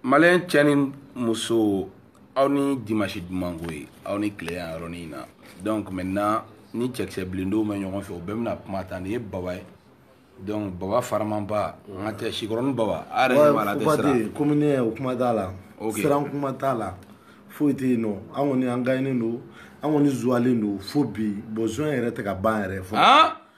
maliyɛn cɛ ni muso aw ni dimansi dumanko ye aw ni tile yan yɔrɔnin in na donc maintenant ni cɛkisɛ bilendenw bɛ ɲɔgɔn fɛ u bɛɛ bɛna kuma ta nin ye baba ye donc baba faramanba n ka tɛ sikɔrɔni baba a yɛrɛ ɲɛ b'a la a tɛ siran komini o kuma t'a la siran kuma t'a la foyi tɛ yen nɔ an kɔni an gaɲɛnen don an kɔni zuwalen don fo bi bon zuwa yɛrɛ tɛ ka ban yɛrɛ fɔ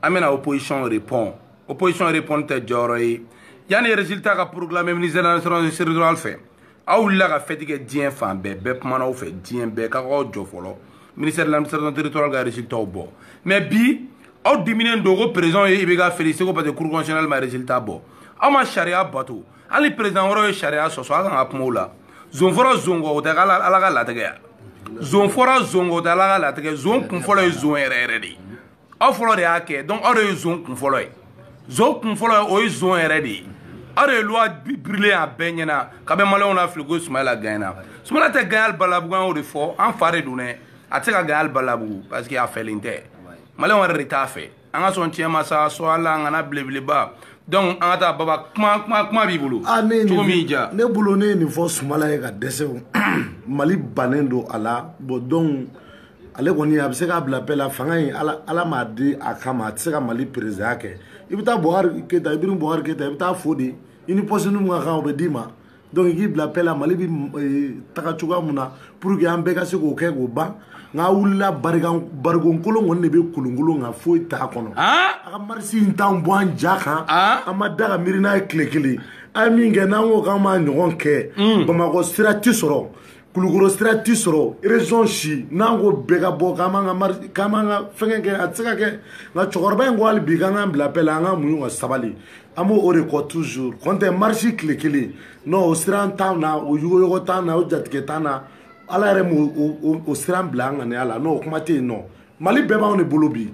an bɛna opposition repond opposition repond tɛ jɔyɔrɔ ye yanni résultat ka proclamer ministère de l'administration territoriale fɛ aw wulila ka fɛti kɛ diɲɛ fan bɛɛ bɛɛ kumana aw fɛ diɲɛ bɛɛ k'aw k'aw jɔ fɔlɔ ministère de l'administration territoriale ka résultat bɔ mais bi aw diminen don ko président ye IBK félicité ko parce que cour constitutionnelle ma résultat bɔ aw ma sariya bato hali président wɛrɛw ye sariya sɔsɔ aw kan ka kuma o la zon fɔra zon kɔ o tɛ ala ka latigɛ ye zon fɔra zon kɔ o tɛ ala ka latigɛ zon kun fɔlɔ ye zon yɛrɛ yɛrɛ de ye aw fɔlɔ de y'a kɛ donc aw de ye zon kun fɔlɔ ye zon kun fɔlɔ ye o ye zon yɛrɛ de ye aw de ye loi brûler a bɛɛ ɲɛna k'a bɛ maliyɛnw nafili ko sumayila gaɲɛna sumayila tɛ gaɲɛ hali balabugu an y'o de fɔ an fa de don dɛ a tɛ se ka gaɲɛ hali balabugu parce que a fɛlen tɛ maliyɛnw yɛrɛ de t'a fɛ an ka sɔn tiɲɛ ma sa sɔ ala an kana belebeleba donc an ka taa baba kuma kuma kuma b'i bolo ah, cogo min ja ne bolo ne ye nin fɔ sumala ye ka dɛsɛ mali bannen don a la bon donc ale kɔni a bɛ se k'a bila pɛ la fanga in ala ala m'a di a kama a tɛ se ka mali présidentya kɛ i bɛ taa buhari keyita ibrahim buhari keyita i bɛ taa fo de i ni pɔsinin mun ka kan o bɛ d'i ma donc i k'i bila pɛ la mali bɛ eh, taga cogoya mun na pour que an bɛɛ ka se k'o kɛ k'o ban nka wulila barikan barikon kolon kɔni de bɛ kolonkolon nka foyi t'a kɔnɔ a ka marisi in t'an bɔ an ja kan an ma da ka miiri n'a ye tile kelen an ye min kɛ n'an ko k'an b'a ɲɔgɔn kɛ bamakɔ sira tɛ sɔrɔ kulukɔrɔ sira ti sɔrɔ région si n'an ko bɛɛ ka bɔ k'an b'an ka k'an b'an ka fɛngɛ kɛ a tɛ se ka kɛ nka cɛkɔrɔba in ko hali bi k'an k'an bila pɛ la an ka muɲu ka sabali an b'o de kɔ toujours kɔntɛ marisi tile kelen non o siran t'an na o yuguyugu t'an na o jatigɛ t'an na ala yɛrɛ ma o siran bila an ŋaniya la nɔ o kuma tɛ yen nɔ mali bɛɛ b'anw de bolo bi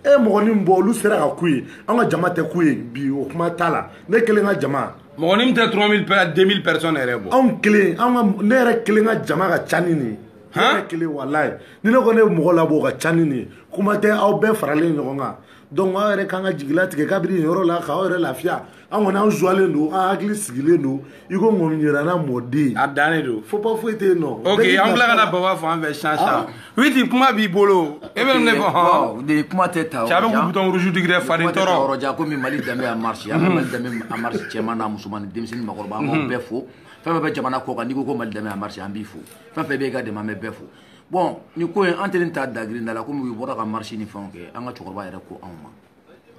e mɔgɔnin bɔ olu sera ka ku ye an ka jama tɛ ku ye bi o kuma t'a la ne kelen ka jama mɔgɔnin tɛ 3000 pɛ 2000 personnes yɛrɛ bɔ anw kelen an ka ne yɛrɛ kelen ka jama ka ca ni nin ye ne kelen walayi ni ne ko ne bɛ mɔgɔ labɔ o ka ca ni nin ye kuma tɛ aw bɛɛ faralen ɲɔgɔn kan donc aw yɛrɛ kan ka jigi latigɛ kabiri nin yɔrɔ la k'aw yɛrɛ lafiya an kɔni an zuwalen don an hakili sigilen don i ko ŋɔmiyiranna mɔden a dannen don fo pa foyi tɛ yen nɔ ok an bila ka na baba fɔ an fɛ sisan sisan witi kuma b'i bolo e bɛ ne fɔ hɔn de kuma tɛ ta cɛ a bɛ k'u bouton rouge digi dɛ faden tɔɔrɔ yɔrɔ jan komi mali danbe en marche an ka mali danbe en marche cɛman n'a musoman ni denmisɛn ni makɔrɔba an b'aw bɛɛ fo fɛn fɛn bɛ jamana kɔ kan n'i ko ko mali danbe en marche an b'i fo fɛn fɛn bɛ e ka dɛmɛ an bɛ bɛɛ fo bon ni ko ye an tɛ nin ta dagirinda la komi u bɔra ka marche ni fɛnw kɛ an ka cɛkɔrɔba yɛrɛ ko anw ma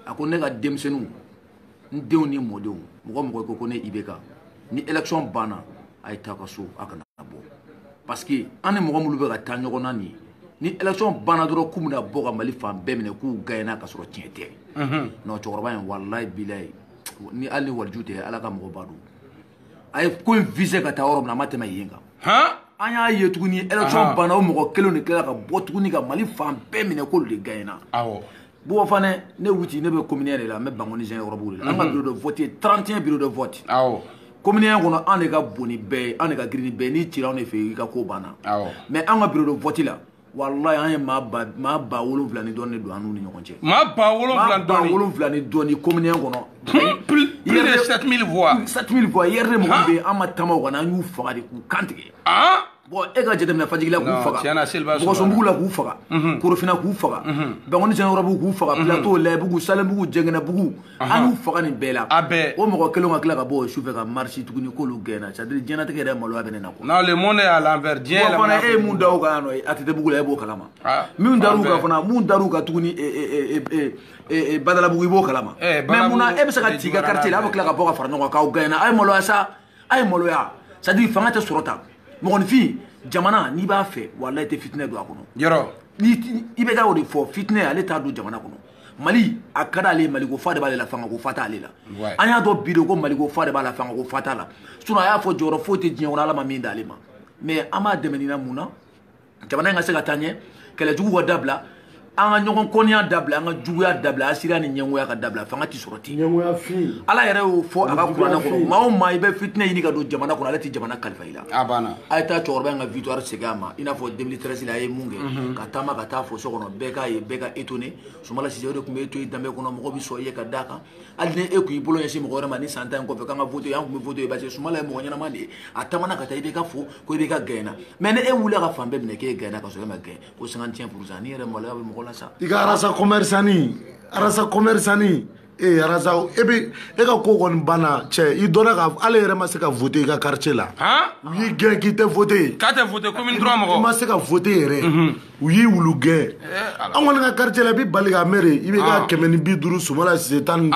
a ko ne ka denmisɛnninw n denw ni mɔdenw mɔgɔ o mɔgɔ ko ko ne IBK ni élection banna a ye taa ka so a kana bɔ parce que an ni mɔgɔ minnu bɛ ka taa ɲɔgɔn na nin ye ni élection banna dɔrɔn k'u bɛna bɔ ka mali fan bɛɛ minɛ k'u gagnena ka sɔrɔ tiɲɛ tɛ non cɛkɔrɔba in walayi bilayi ni hali ni waliju tɛ ala ka mɔgɔba don a ye ko in visé ka taa yɔrɔ min na a ma tɛmɛ yen kan an y'a ye tuguni élection banna o mɔgɔ kelen de tilala ka bɔ tuguni ka mali fan bɛɛ minɛ k'olu de gagnena bon enfin ne wuti ne bɛ commune 1 de la n bɛ bangoni zɛkɛnɛkɔrɔbugu de la an ka mhm. bureau de vote ye 31 bureau de vote commune 1 kɔnɔ an de ka bon ni bɛɛ ye an de ka girin ni bɛɛ ye n'i cira anw de fɛ i ka ko banna mais an ka bureau de vote la walayi an ye maa ba maa ba wolonwula ni dɔɔni de don an n'u ni ɲɔgɔn cɛ. maa ba wolonwula ni dɔɔni. maa ba wolonwula ni dɔɔni commune 1 kɔnɔ. Hmm, plus de 7000 voix. 7000 voix URD mɔgɔw bɛ yen an ma taama o kan an y'u faga de k'u kan tigɛ. Ah! bon e ka jateminɛ fajigila k'u faga bulukasunbugu la k'u faga korofina k'u faga bangoni zɛkɛnɛkɔrɔbugu k'u faga plateau layibugu salenbugu janginɛbugu an y'u faga nin bɛɛ la a bɛɛ o mɔgɔ kelen ka tila ka bɔ o sufɛ ka marche tuguni k'olu gagnena c'est à dire diɲɛnatigɛ yɛrɛ maloya bɛ ne na quoi non le monde est à l'envers diɲɛ yɛlɛma fana e ye mun da o kan yan nɔ ATTbugu la e b'o kalama min dar'u kan fana mun dar'u kan tuguni badalabugu i b'o kalama mais munna e bɛ se ka t'i ka quartier la a bɛ tila ka bɔ ka fara ɲɔgɔn kan k'aw gagnena a ye maloya sa a ye maloya c'est à dire fanga tɛ sɔrɔ tan mɔgɔninfin jamana n'i b'a fɛ walayi i tɛ fitinɛ don a kɔnɔ yɔrɔ IBK y'o de fɔ fitinɛ ale t'a don jamana kɔnɔ mali a ka d'ale ye maliko fa de b'ale la fangako fa t'ale la an y'a dɔn bi de ko maliko fa de b'a la fangako fa t'a la sinon a y'a fɔ jɔyɔrɔ foyi tɛ diɲɛ kɔnɔ ala ma min d'ale ma mais an b'a dɛmɛ nin na mun na jamana in ka se ka taa ɲɛ kɛlɛ jugu ka dabila an ka ɲɔgɔn kɔniya dabila an ka juguya dabila hasidiya ni ɲɛngoya ka dabila fanga ti sɔrɔ ten ala yɛrɛ y'o fɔ a ka kuranɛ kɔnɔ maa o maa i bɛ fitinɛ ɲini ka don jamana kɔnɔ ala tɛ jamana kalifa la a banna a ye taa cɛkɔrɔba in ka victoire segin a ma i n'a fɔ 2013 la a ye mun kɛ mhm. ka taama ka taa fo so kɔnɔ bɛɛ k'a ye bɛɛ ka étonné sumala sise o de tun b'i to i danbe kɔnɔ mɔgɔ bɛ sɔn i ye ka d'a kan hali ni e tun y'i bolo ɲɛsin mɔgɔ wɛrɛ ma nin san tan in kɔfɛ k'an ka vote an tun bɛ vote ye parce que sumala ye mɔgɔ ɲɛnama de ye a taamana ka taa IBK fo ko IBK gagnena mais ni e wulila ka fan bɛɛ minɛ k'e gagnena ka sɔrɔ e ma gagne ko 55 pourcent nin yɛrɛ maloya bɛ mɔgɔ la sa i ka rasta commerçant rasta commerçant ee rasta e bi e ka ko kɔni banna cɛ i dɔnna ka ale yɛrɛ ma se ka vote i ka quartier la u y'i gɛn k'i tɛ vote k'a tɛ vote commune 3 mɔgɔ i ma se ka vote yɛrɛ u y'i wulu gɛn an kɔni ka quartier la i bi bali ka mere IBK kɛmɛ ni bi duuru sumala sise tan ni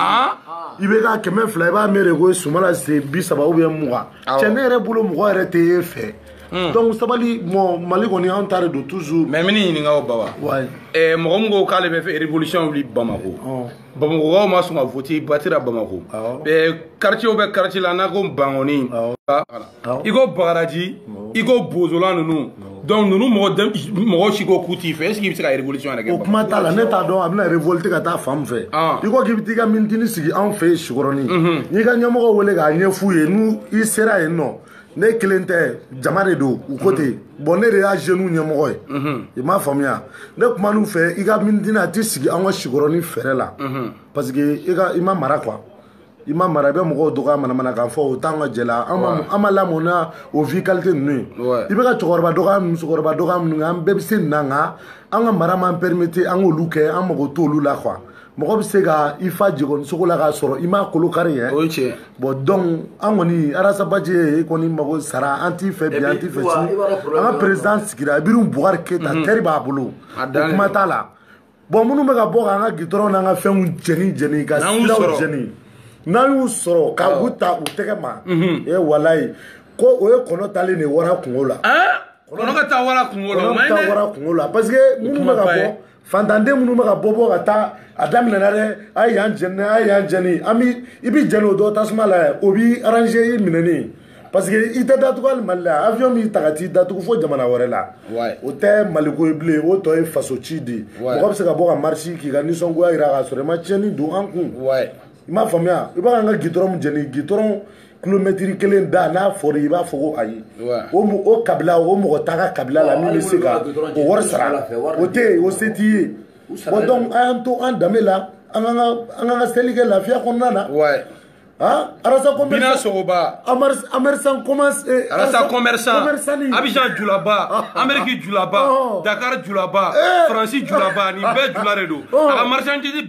IBK kɛmɛ fila i b'a mere ko sumala sise bi saba ou bien mugan cɛ ne yɛrɛ bolo mɔgɔ yɛrɛ tɛ e fɛ Hmm. donc sabali mɔ mali kɔni an ta de don toujours mais n b'i ɲininka o baba eh, mɔgɔ min ko k'ale bɛ fɛ révolution wuli bamako oh. bamakɔkaw ma sɔn ka voti batira bamako eh, quartier o bɛ quartier la n'a ko bankɔni i ko bagaraji i ko bozola ninnu donc ninnu mɔgɔ mɔgɔ si ko k'u t'i fɛ est ce que i bɛ se ka révolution yɛrɛ kɛ o kuma t'a la ne t'a dɔn a bɛna révolte ka taa fan min fɛ ah. i ko k'i bɛ t'i ka minitini sigi anw fɛ yen sikɔrɔni mhm. n'i ka ɲɛmɔgɔ wele k'a ɲɛf'u ye n'u i sera yen nɔ ne kelen tɛ jama de don u ko ten bon ne de y'a jeunes ɲɛmɔgɔ ye i m'a faamuya ne kuman'u fɛ i ka minitini a tɛ sigi an ka sikɔrɔni fɛrɛ la parce que i ma mara quoi i ma mara i bɛ mɔgɔw dɔgɔya manamana kan fɔ o t'an ka jɛ la an ma lamɔ n'o vie qualité ninnu ye i bɛ ka cɛkɔrɔba dɔgɔya musokɔrɔba dɔgɔya minnu kɛ an bɛɛ bɛ se nin na nka an ka mara m'an permettre an k'olu kɛ an mago t'olu la quoi mɔgɔ bɛ se ka i fa jegɔnisogo la k'a sɔrɔ i m'a kolo kari yɛ o ye tiɲɛ bon donc an kɔni arasa baji e kɔni mago sara an t'i fɛ bi an t'i fɛ sini an ka président sigira ibrahim boubacar keita mhm. tɛri b'a bolo o kuma t'a la bon minnu bɛ ka bɔ k'an ka gitɔrɔn n'an ka fɛnw jɛni jɛni ka siraw jɛni n'an y'u sɔrɔ ka u ta u tɛgɛ ma mhm. e walayi ko o ye kɔnɔ taalen de wara kungo la kɔnɔ ka taa wara kungo la kɔnɔ ka taa wara kungo la parce que minnu bɛ ka bɔ fantanden minnu bɛ ka bɔ bɔ ka taa a daminɛna dɛ a ye yan jɛni a ye yan jɛni an b'i i bɛ jɛni o dɔ tasuma la yɛ o b'i arranger i minɛni parce que i tɛ datugu hali mali la avion b'i ta ka t'i datugu fo jamana wɛrɛ la o tɛ maliko ye bilen o tɔ ye faso ci de mɔgɔ bɛ se ka bɔ ka marche k'i ka nisɔngoya jira k'a sɔrɔ i ma tiɲɛni don an kun i m'a faamuya i bɛ k'an ka gitɔrɔn jɛni gitɔrɔn kilomɛtiri kelen da n'a fɔra i b'a fɔ ko ayi o o kabila o mɔgɔ t'a ka kabila la min bɛ se ka o wari sara o tɛ yen o se t'i ye bon donc a y'an to an danbe la an k'an ka an k'an ka seli kɛ lafiya kɔnɔna na ah arasa commerçant bina sogoba amersan commerce eh, arasa commerçant abijan julaba ameriki julaba dakar julaba eh. faransi julaba nin bɛɛ jula de don a ka marchandise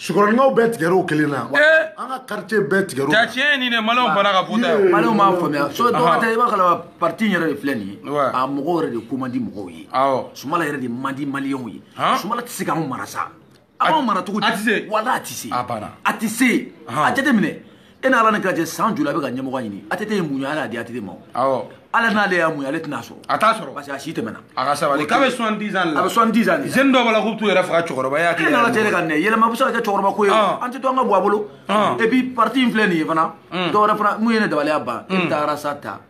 sikɔrɔninkaw bɛɛ tigɛra o kelen na an ka quartier bɛɛ tigɛra o la tiɲɛ ye nin de maliyɛnw banna ka vot'a ye maliyɛnw m'a faamuya so dɔw ka tɛ i b'a kalama parti in yɛrɛ de filɛ nin ye a mɔgɔw yɛrɛ de ko man di mɔgɔw ye sumala yɛrɛ de man di maliyɛnw ye sumala tɛ se k'anw mara sa a b'anw mara cogo di walayi a tɛ se a tɛ se a jateminɛ e n'ala ni kira cɛ san joli a bɛ ka ɲɛmɔgɔya ɲini atete ye muɲu ala y'a di atete ma awɔ ala n'ale y'a muɲu ale tɛna sɔrɔ a t'a sɔrɔ parce que a si tɛmɛna a ka sabali k'a bɛ soixante dix ans la a bɛ soixante dix ans de jeune dɔw b'a la k'u bɛ t'u yɛrɛ faga cɛkɔrɔba ye hakili n'ala tɛ ka nɛ yɛlɛma bɛ se ka kɛ cɛkɔrɔba ko ye an tɛ to an ka bɔ a bolo et puis parti in filɛ nin ye fana dɔwɛrɛ fana mun ye ne dabaliya ban e bɛ taa arasa ta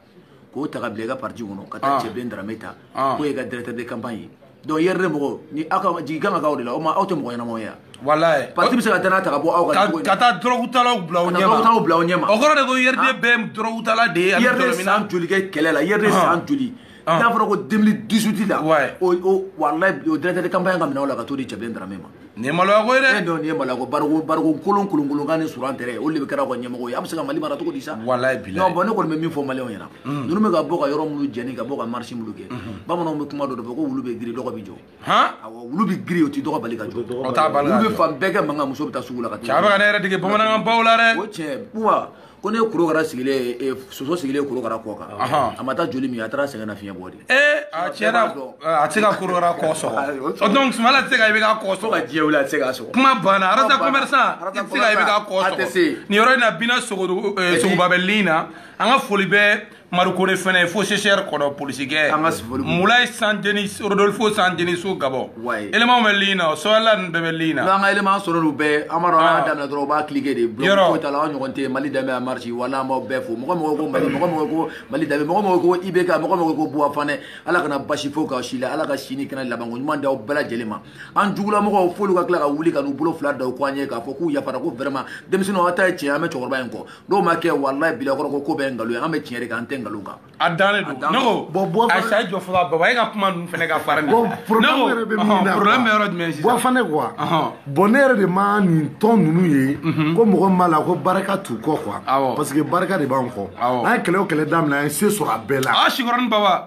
k'o ta ka bila i ka parti kɔnɔ ka taa cɛbilen darame ta k'o ye ka directeur de campagne ye donc urd mɔgɔw ni aw ka jigi kan ka k'aw de la o ma aw tɛ mɔgɔ ɲɛnamaw ye yan walayi parti bɛ se ka danaya ta ka bɔ aw kan ka taa dɔrɔgutalaw bila aw ɲɛma dɔrɔgutalaw bila aw ɲɛma o kɔrɔ de ko urd bɛɛ dɔrɔgutala de ye urd san joli kɛ kɛlɛ la urd san joli n'a fɔra ko 2018 la o walayi o directeur de campagne k'a minɛ aw la ka t'o di cɛbilen darame ma nin ye maloya ko ye dɛ. e dɔn nin ye maloya ko bariko bariko kolon kolonkolon kan ni suran tɛrɛ olu de bɛɛ kɛra aw ka ɲɛmɔgɔ ye a bɛ se ka mali mara cogo di sa. walayi bilayi. non bɔn ne kɔni bɛ min fɔ maliyɛnw ɲɛna. ninnu bɛ ka bɔ ka yɔrɔ minnu jɛni ka bɔ ka marche minnu kɛ. bamananw bɛ kuma dɔ de fɔ ko wulu bɛ giri dɔgɔ bɛ jɔ. awɔ wulu bɛ giri o tɛ dɔgɔ bali ka jɔ. o t'a bali ka jɔ wulu bɛ fan bɛɛ kɛ mankan muso bɛ taa sugu la ka taa. cɛ a bɛ ka ne yɛrɛ dege bamanankan baw la dɛ. o cɛ buwa. ko ne korokara sigilen eh, soso sigilen korokara kɔ kan a ma taa joli min a taara sɛgɛnnafiɲɛ bɔ de ee a tiɲɛna a tɛ se ka korokara kɔ sɔgɔ donc sumala tɛ se ka ibk kɔ sɔgɔ ka diɲɛ wuli a tɛ se k'a sɔgɔ kuma banna rasta commerçant i tɛ se ka ibk kɔ sɔgɔ nin yɔrɔ in na bina sogoba bɛ lin na an ka foli bɛ marikore fana ye fo sesɛri kɔrɔ polisikɛ mulayi saint denis rodolfo san deniso gabon elemanw bɛ liin na sɔyala ninnu bɛɛ bɛ liin na an ka eleman sɔrɔ olu bɛɛ an b'a dɔn an y'a daminɛ dɔrɔn u b'a kilike de bloc foyi t'a la an ɲɔgɔn tɛ mali danbe a marche wala an b'aw bɛɛ fo mɔgɔ mɔgɔ ko mali mɔgɔ mɔgɔ ko mali danbe mɔgɔ mɔgɔ ko ibk mɔgɔ mɔgɔ ko buwa fanɛ ala kana baasi foyi k'aw si la ala ka sini kɛnɛ labanko ɲuman d'aw bɛɛ lajɛlen ma an jugulamɔgɔw f'olu ka tila ka wuli ka n'u bolo fila da u kɔ an ye k'a fɔ k'u yafara ko vraiment denmisɛnninw aw ta ye tiɲɛ an bɛ cɛkɔrɔba in kɔ n'o ma kɛ walayi bilakoro ko ko bɛɛ ye nkalon ye an bɛ tiɲɛ de kan an tɛ nkalon kan a dannen don ne ko bɔn bɔn a sa jɔ fɔlɔ baba e ka kuma ninnu fana ka fara nin bɔn problème yɛrɛ bɛ min na problème bɛ yɔrɔ jumɛn sisan buwa fanɛ quoi bɔn ne yɛrɛ de ma nin tɔn ninnu ye ko mɔgɔ min b'a la ko barika t'u kɔ quoi parce que barika de b'an kɔ an ye kɛlɛ o kɛlɛ daminɛ an ye se sɔrɔ a bɛɛ la a sikɔrɔni baba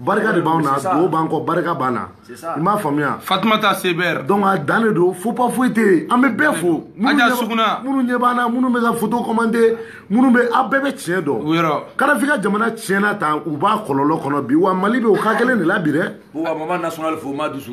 barika de b'anw na dugawu b'an kɔ barika b'an na i m'a faamuya fatumata seber donc a dan de don faux pas foyi tɛ yen an bɛ bɛɛ fo aja suguna minnu ɲɛ b'an na minnu bɛ ka foto commenter minnu bɛ aw bɛɛ bɛ tiɲɛ dɔn yɔrɔ kadafi ka jamana tiɲɛna tan u b'a kɔlɔlɔ kɔnɔ bi wa mali bɛ o ka kelen de la bi dɛ wa mama national fo ma dusu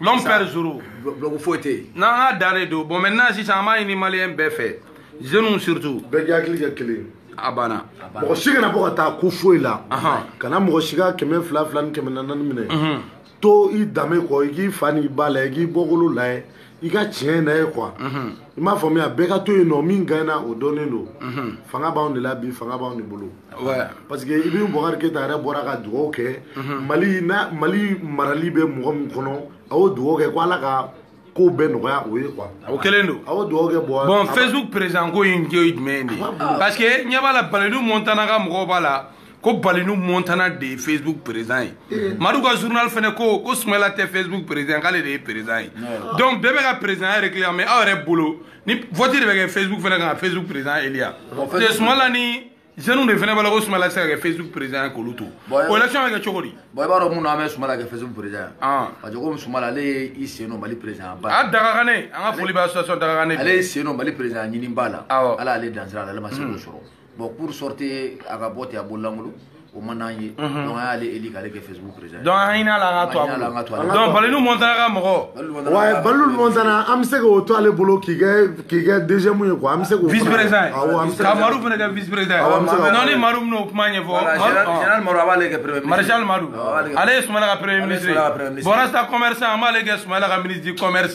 l'homme perd zoro bloc foyi tɛ yen n'an ka dan de don bon maintenant sisan an b'a ɲini maliyɛn bɛɛ fɛ jeunes surtout bɛɛ k'i hakili kɛ kelen a banna mɔgɔ si kana bɔ ka taa ko foyi la kana mɔgɔ si ka kɛmɛ fila fila ni kɛmɛ naani minɛ mhm. to i danbe kɔ i k'i fa n'i ba layɛ i k'i bɔkolo layɛ i ka tiɲɛ layɛ quoi mhm. i m'a faamuya bɛɛ ka to yen nɔ min gagnera o dɔnnen don mhm. fanga b'anw de la bi fanga b'anw de bolo parce que ibrahim bubakari keyita yɛrɛ bɔra ka dugawu kɛ mhm. mali na mali marali bɛ mɔgɔ min kɔnɔ a y'o dugawu kɛ ko ala ka kow bɛɛ nɔgɔya o ye quoi o kɛlen don a y'o dugawu kɛ bɔn bɔn facebook président ko in ye jumɛn de ye parce que ɲɛ b'a la baladu montana ka mɔgɔw b'a la ko balinu montana de ye facebook président ye eh. madu ka journal fana ko ko sumayla tɛ facebook président k'ale de ye président ye donc bɛɛ bɛ ka président réclamer aw yɛrɛ bolo ni vote de bɛ kɛ facebook fana kan ka facebook président eliya de sumayla ni jeunes de fana b'a la ko sumayla tɛ se ka kɛ facebook président ye k'olu to o election bɛ kɛ cogo di. bon i b'a dɔn mun na an bɛ sumayla kɛ facebook président ye. Ah. parce que komi sumayla ale ye i sen don mali président ba. a dagagane an ka foli bɛ association dagagane. ale ye sen don mali président ɲini ba la. awɔ ala ale dansira la ale ma se k'o hmm. sɔrɔ. bon pour sortir a ka bɔ ten a bololankolon o man d'an ye donc an y'ale eli k'ale kɛ facebook président donc an hinɛ la an ka to a bolo donc balinu montana ka mɔgɔ ouais balinu montana an bɛ se k'o to ale bolo k'i kɛ k'i kɛ deuxième ye quoi an bɛ se k'o vice président ka madu fana kɛ vice président non ni madu bɛna o kuma ɲɛfɔ général madu an b'ale kɛ premier ministre maréchal madu ale ye sumayila ka premier ministre ye bon rasta commerçant an b'ale kɛ sumayila ka ministre du commerce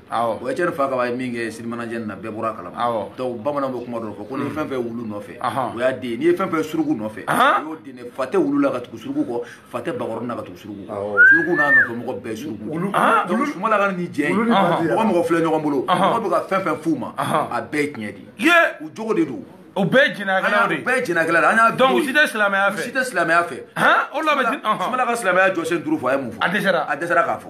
o étienne fakaba ye min kɛ sirimanajɛ na bɛɛ bɔra a kalama donc bamananw bɛ kuma dɔ fɔ ko ni fɛn fɛn wulu nɔfɛ o y'a den n'i ye fɛn fɛn suruku nɔfɛ y'o den fa tɛ wulu la ka tugu suruku kɔ fa tɛ bakɔrɔnin na ka tugu suruku kɔ suruku n'a nɔfɛ mɔgɔ bɛɛ suruku donc sumala ka nin jɛ in mɔgɔ filɛ ɲɔgɔn bolo mɔgɔ bɛ ka fɛn fɛn f'u ma a bɛɛ ye tiɲɛ de ye u jogo de don o bɛɛ jɛnɛyakɛlaw de ye bɛɛ jɛnɛyakɛla de an y'a donc u si tɛ silamɛya fɛ u si tɛ silamɛya fɛ o la bɛ sumala ka silamɛya jɔsen duuru fɔ a ye mun fɔ a dɛsɛra a dɛsɛra k'a fɔ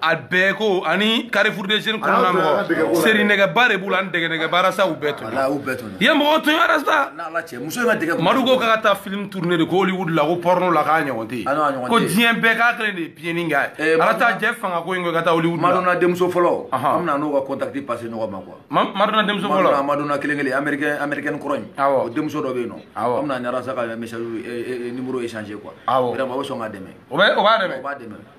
a bɛɛ ko ani carrefour des jeunes kɔnɔna mɔgɔ seri nɛgɛba de b'u la ani dɛgɛ nɛgɛba rasta u bɛɛ to yen mɔgɔw to yen rasta madu ko k'a ka taa film tourner de ko hollywood la ko porno la k'a ɲɔgɔn tɛ yen ko diɲɛ bɛɛ k'a kelen de ye piyeni k'a ye ala taa jɛ fanga ko in ko i ka taa hollywood la madonna denmuso fɔlɔ an bɛna n'o ka contact passer ɲɔgɔn ma quoi madonna denmuso fɔlɔ madonna kelen kelen américain américaine kɔrɔ in o denmuso dɔ bɛ yen nɔ an bɛna ni rasta ka message numéro échanger quoi vraiment o bɛ sɔn k'a dɛmɛ o b'a dɛmɛ o b'a dɛmɛ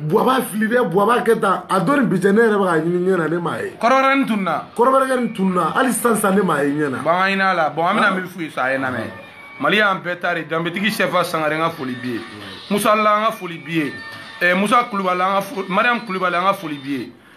buwaba fili dɛ buwaba kɛ tan a dɔ nin bi cɛ ne yɛrɛ bɛ ka ɲini ɲɛ na ne m'a ye kɔrɔbɔrɔ nin tununna kɔrɔbɔrɔkɛ nin tununna hali sisan sisan ne m'a ye ɲɛ na bon an ɲin'a la bon an bɛna min f'u ye sa a ye n lamɛn mali y'an bɛɛ ta de danbetigi sɛfa sangare an ka foli b'i ye musa la an ka foli b'i ye musa kulubali an ka mariam kulubali an ka foli b'i ye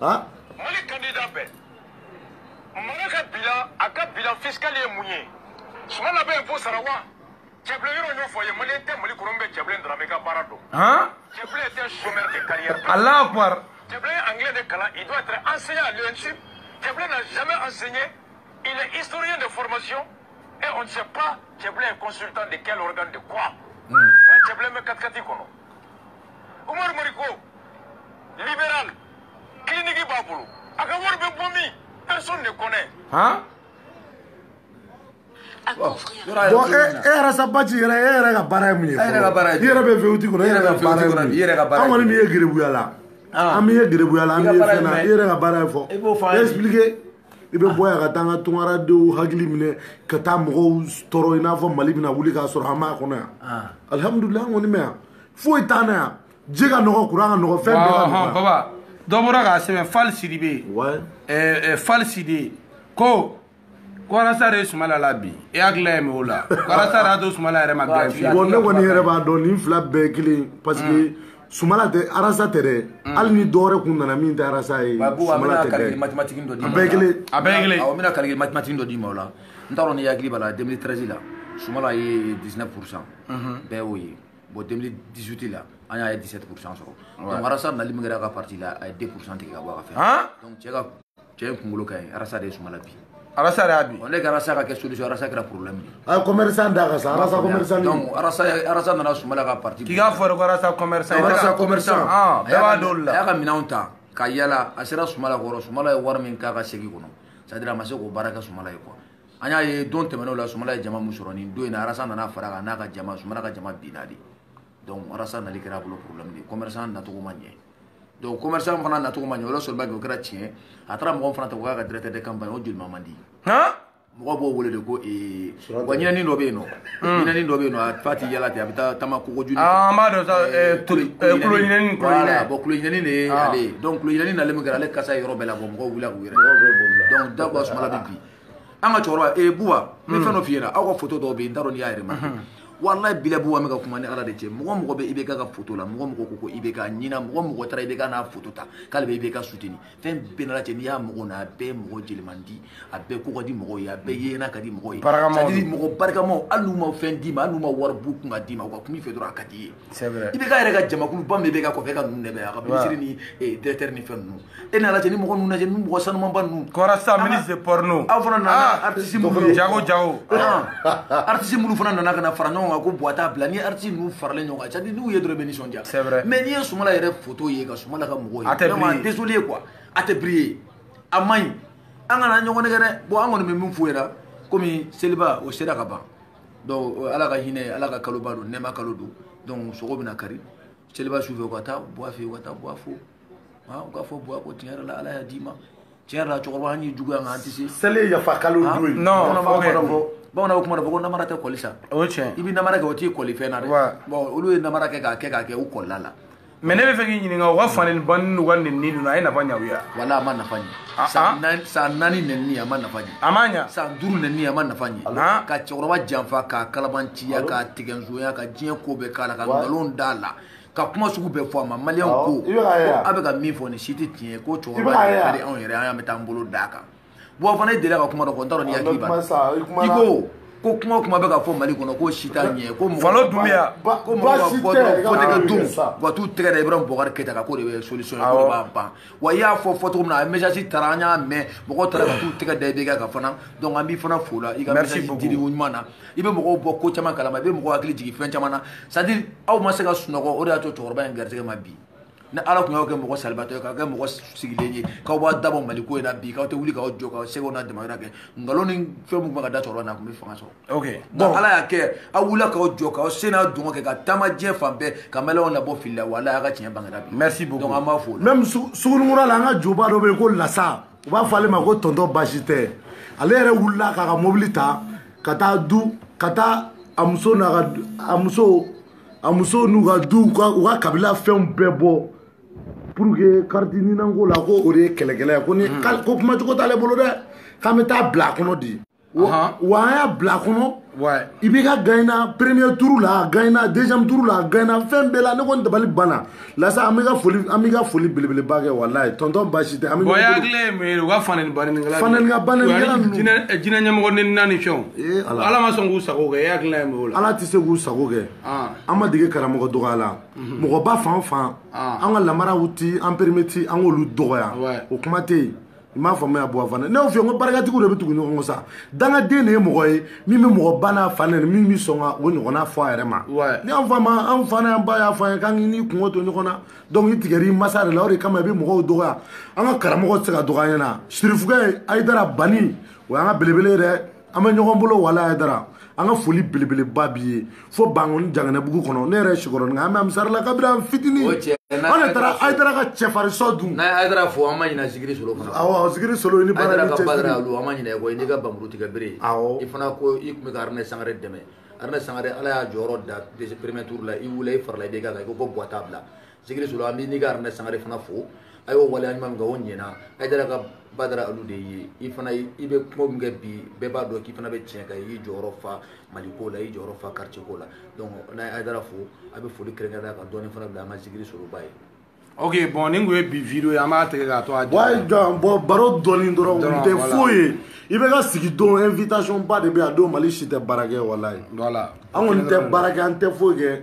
ah? mali candidat bɛɛ mara ka bilan a ka bilan fiscal ye mun ye sumala bɛ impôt sara wa cɛbilen yɔrɔ ɲɛfɔ ye maliyɛn tɛ mali kɔnɔ min bɛ cɛbilen dramɛ ka baara dɔn cɛbilen est un chômeur de carrière alahu akubar cɛbilen ye anglais de kalan il doit être enseignant à l'ENSUP cɛbilen n'a jamais enseigné il est historien de formation et on ne sait pas cɛbilen est consultant de quel organe de quoi hmm. cɛbilen bɛ katikati kɔnɔ Umaru Mariko libéral clinique b'a bolo a ka wari bɛ bɔ min personne ne connaît han bon e Ras Bath yɛrɛ e yɛrɛ ka baara ye mun ye e yɛrɛ ka baara ye i yɛrɛ bɛ vewuti kɔnɔ e yɛrɛ ka baara ye mun ye an kɔni m'i ye gerebuya la an m'i ye gerebuya la an m'i ye fɛn na e yɛrɛ ka baara ye faut expliquer i bɛ bɔ yan ka taa an ka tungaradenw hakili minɛ ka taa mɔgɔw tɔɔrɔ i n'a fɔ mali bɛna wuli k'a sɔrɔ an b'a kɔnɔ yan alihamudulila an kɔni bɛ yan foyi t'an na yan ji ka nɔgɔ kuran ka nɔgɔ fɛn bɛɛ ka nɔgɔ baba dɔ bɔra k'a sɛbɛn fali sidibe fali sidi ko arasa de ye sumala labin e hakili ye mun o la k'arasa de y'a to sumala yɛrɛ ma gagner fiyewu ne kɔni yɛrɛ b'a dɔn nin fila bɛɛ kelen parce que sumala tɛ arasa tɛ dɛ mm. hali ni dɔwɛrɛ kun nana min tɛ arasa ye sumala tɛ dɛ a bɛɛ kelen a bɛɛ kelen awɔ n bɛna calcul mathématique dɔ d'i ma o la n t'a dɔn n'i hakili b'a la 2013 la sumala ye 19 pourcent mhm. bɛɛ y'o ye bon 2018 la an y'a ye 17 pourcent sɔrɔ donc arasa nali min kɛra a ka parti la a ye 2 pourcent tigɛ ka bɔ a ka fɛn donc cɛ ka cɛ in kunkolo ka ɲi arasa de ye sumala bin arasa de y'a bin ne ka arasa ka kɛ solution arasa kɛra problème de ye commerçant da ka sa arasa commerçant donc arasa arasa nana sumala ka parti k'i k'a fɔ de ko arasa commerçant arasa commerçant ah, bɛɛ b'a dɔn olu la a y'a ka minɛnw ta ka yala a sera sumala kɔrɔ sumala ye wari min k'a ka segi kɔnɔ c'est à dire a ma se k'o baara kɛ sumala ye quoi an y'a ye don tɛmɛnenw la sumala ye jama min sɔrɔ nin don in na arasa nana far'a kan n'a ka jama sumala ka jama binna de donc arasa nali kɛra a bolo problème de ye commerçant nacogo ma ɲɛ donc commerçant fana nacogo ma ɲɛ o la sɔrɔba kɛ o kɛra tiɲɛ a taara mɔgɔ fana ta k'o k'a ka directeur de campagne o jolima man di mɔgɔ b'o wele de ko ee wa ɲinɛni dɔ bɛ yen nɔ ɲinɛni dɔ bɛ yen nɔ a fa ti yala ten a bɛ taa taama kogo juni an b'a dɔn sa kulo ɲinɛni kulo ɲinɛni bon kulo ɲinɛni de ye ale ye donc kulo ɲinɛni nalen min kɛra ale kasa ye yɔrɔ bɛɛ la bon mɔgɔw wulila k'u yɛrɛ donc diyagoya sumala bɛ bin an ka cɛkɔrɔba ee buwa n bɛ fɛn dɔ f'i ɲɛna aw ka foto dɔw bɛ yen n t'a dɔn n'i y'a remarquer walayi bila buba n bɛ ka kuma ni ala de cɛ mɔgɔ mɔgɔ bɛ ibk ka foto la mɔgɔ mɔgɔ ko ko ibk ɲɛna mɔgɔ mɔgɔ taara ibk n'a foto ta k'ale bɛ ibk suteni fɛn bɛɛ n'a lajɛ n'i y'a mɔgɔ na a bɛɛ mɔgɔ jelimandi a bɛɛ ko ka di mɔgɔw ye a bɛɛ yeena ka di mɔgɔw ye c'est à dire mɔgɔ barikamaw hali n'u ma fɛn d'i ma hali n'u ma wari b'u kun ka d'i ma u ka kuma i fɛ dɔrɔn a ka d'i ye ibk yɛrɛ ka jamakuluba min bɛ ibk kɔfɛ ka ninnu dɛmɛ a ka minisiri ni directeur ni fɛn ninnu e n'a lajɛ ni mɔgɔ ninnu lajɛ ni mɔgɔ sanumanba ninnu k'arasa ministre porno aw fana nana artiste minnu ye jago jago artiste minnu fana nana ka na fara ɲɔgɔn kan ko buwa t'a bila ni artiste ninnu faralen ɲɔgɔn kan c'est à dire n'u ye dɔrɔn i bɛ nisɔndiya c'est vrai mais n'i ye Sumala yɛrɛ photo ye ka Sumala ka mɔgɔw ye a tɛ vraiment désolé quoi a tɛ briller a man ɲi an kana ɲɔgɔn nɛgɛn dɛ bon an kɔni bɛ min f'u ɲɛna komi seliba o sera ka ban donc ala ka hinɛ ala ka kaloba don nɛɛma kalo don donc sogo bɛna kari seliba su fɛ u ka taa buwa fɛ u ka taa buwa fo u ka fɔ buwa ko tiɲɛ yɛrɛ la ala y'a d'i ma tiɲɛ yɛrɛ la cɛkɔrɔba an y'i juguya nka an tɛ se seli ye yafa kalo don ye non bamananw bɛ kuma dɔ fɔ ko namara tɛ kɔli sa o ye tiɲɛ i bɛ namara kɛ o t'i kɔli fɛn na dɛ bon olu ye namara kɛ k'a kɛ k'a kɛ u kɔlila la mais ne b'a fɛ k'i ɲininka u ka fanenni banenni n'u ka nenni ninnu a ye nafa ɲɛ u ye wala a ma nafa ɲɛ ah, ah. san naani nenni a ma nafa ɲɛ a ma ɲɛ san duuru nenni a ma nafa ɲɛ ah. ka cɛkɔrɔba janfa k'a kalabanciya k'a tigɛnzoya ka diɲɛ ko bɛɛ k'a la ka nkalon d'a la ka kuma sugu bɛɛ fɔ a ma maliyɛnw ko a bɛ ka min fɔ nin si tɛ tiɲɛ ye ko cɛkɔrɔba yɛrɛ ka di anw yɛrɛ an y'an bɛ taa an bolo d'a kan buba fane e delila ka kuma dɔ fɔ n t'a dɔn n'i hakili b'a la i ko ko kuma o kuma bɛ ka fɔ mali kɔnɔ k'o si t'a ɲɛ ko mɔgɔ dunbiya ko mɔgɔ ka bɔ dɔrɔn wote kɛ don u ka t'u tɛgɛ da ibrahim bubakari keyita kan k'o de bɛ solution ye k'o de b'a ban wa i y'a fɔ fɔ cogo min na a message taara an y'a mɛn mɔgɔw taara ka t'u tɛgɛ da ibk kan fana donc an b'i fana fo la i ka message dili ko ɲuman na i bɛ mɔgɔw bɔ ko caman kalama i bɛ mɔgɔw hakili jigin fɛn caman na c'est à dire aw ma se ka sunɔgɔ o de y'a to cɛkɔrɔba in garisɛgɛ ma bi ni ala tun y'aw kɛ mɔgɔ salabaatɔ ye k'aw kɛ mɔgɔ sigilen ye k'aw b'aw da bɔ mali ko in na bi k'aw tɛ wuli k'aw jɔ k'aw seko n'aw damajira kɛ nkalon ni fɛn minnu bɛ ka da cɛkɔrɔba na a tun bɛ fanga sɔrɔ ok nka ala y'a kɛ aw wulila k'aw jɔ k'aw se n'aw dɔnko kɛ ka taama diɲɛ fan bɛɛ ka maliyɛnw labɔ fili la wa ala y'a kɛ tiɲɛ bangera bi merci beaucoup donc an b'a fo même sugunikura la an ka julaba dɔ bɛ yen ko lasa u b'a fɔ ale ma ko tonton baasi tɛ ale yɛrɛ wulila k'a ka mobili ta ka taa du ka taa a muso n'a ka a muso a musow n'u ka duw u ka kabila fɛnw bɛɛ bɔ pour que kariti nina ko la ko o de ye kɛlɛkɛla ye ko ni hmm. ko kuma cogo t'ale bolo dɛ k'an bɛ taa bila a kɔnɔ dɛ wa an y'a bila a kɔnɔ ibk gagner premier tour la a gagner deuxième tour la a gagner fɛn bɛɛ la ne kɔni dabali banna lasa an b'i ka foli an b'i ka foli belebeleba kɛ walayi tonton baasi tɛ bon i hakili ye mun ye u ka fanɛni banɛnikɛla fanɛnikɛ banɛnikɛla ninnu diinɛ diinɛ ɲɛmɔgɔ nɛnina ni fɛnw ee ala ala ma sɔn k'u sago kɛ e hakilina ye mun ye o la ala tɛ se k'u sago kɛ Ah. an ma dege karamɔgɔ dɔgɔya la mɔgɔba fan o fan Ah. an ka lamaraw ti an perimeti an k'olu dɔgɔya Ouais. o kuma tɛ yen i m'a faamuya buba fane ne y'o f'i ye n ko barikatigiw de bɛ tugu ɲɔgɔn kɔ sa dangaden de ye mɔgɔ ye min bɛ mɔgɔ ba n'a fa nɛni min bɛ sɔn ka o ɲɔgɔnna fɔ a yɛrɛ ma ni an fa ma an fa n'an ba y'a fɔ an ye k'an k'i n'i kungo to ɲɔgɔn na donc i tigɛr'i masa de la o de kama i bɛ mɔgɔw dɔgɔya an ka karamɔgɔ tɛ se ka dɔgɔya an ɲɛ na sirifukɛ ayidara bani o y'an ka belebele ye dɛ an bɛ ɲɔgɔn bolo walayi ayidara an ka foli belebeleba b'i ye fo bankoni janginɛbugu kɔnɔ ne yɛrɛ sikɔrɔninka an bɛ ansari la kabiri an fitini an de taara ayidara ka cɛfarinshɔ dun n'a ye ayidara fo an ma ɲina zikiri solo fana awɔ zikiri solo i ni baara ni cɛsiri ayidara ka badara alu an ma ɲina i kɔ i n'i ka bamuru tigɛ bere awɔ i fana ko i tun bɛ ka aruna sankare dɛmɛ aruna sankare ala y'a jɔyɔrɔ da premier tour la i wulila i farala ibk kan i ko ko buwa t'a bila zikiri solo an b'i n'i ka aruna sankare fana fo a y'o waleya ɲuman min kɛ o ɲɛna ayidara ka badara alu de ye i fana i bɛ kuma min kɛ bi bɛɛ b'a dɔn k'i fana bɛ tiɲɛ kan i y'i jɔyɔrɔ fa mali ko la i y'i jɔyɔrɔ fa quartier ko la donc n'a ye ayidara fo a bɛ foli kɛrɛnkɛrɛnnenya ka dɔɔni fana bila an ka zikiri soloba ye ok bon nin tun ye bi video ye an b'a tigɛ k'a to a jɔ bon baro dɔɔni dɔrɔn o tɛ foyi ye ibk sigi don invitation ba de bɛ yan a don mali si tɛ baara kɛ walayi an kɔni tɛ baara kɛ an tɛ foyi kɛ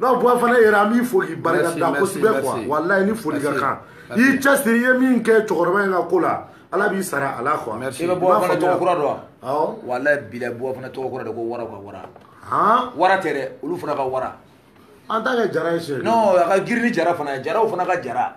non buba fane yɛrɛ an b'i fo k'i barika da kosɛbɛ quoi walayi ni foli ka kan i y'i cɛsiri i ye min kɛ cɛkɔrɔba in ka ko la ala b'i sara a la quoi i bɛ buba fane tɔgɔ kura dɔn wa walayi bilayi buba fane tɔgɔ kura de ko wara ka wara wara tɛ dɛ olu fana ka wara an t'a kɛ jara ye sɛ non a ka girin ni jara fana ye jaraw fana ka jara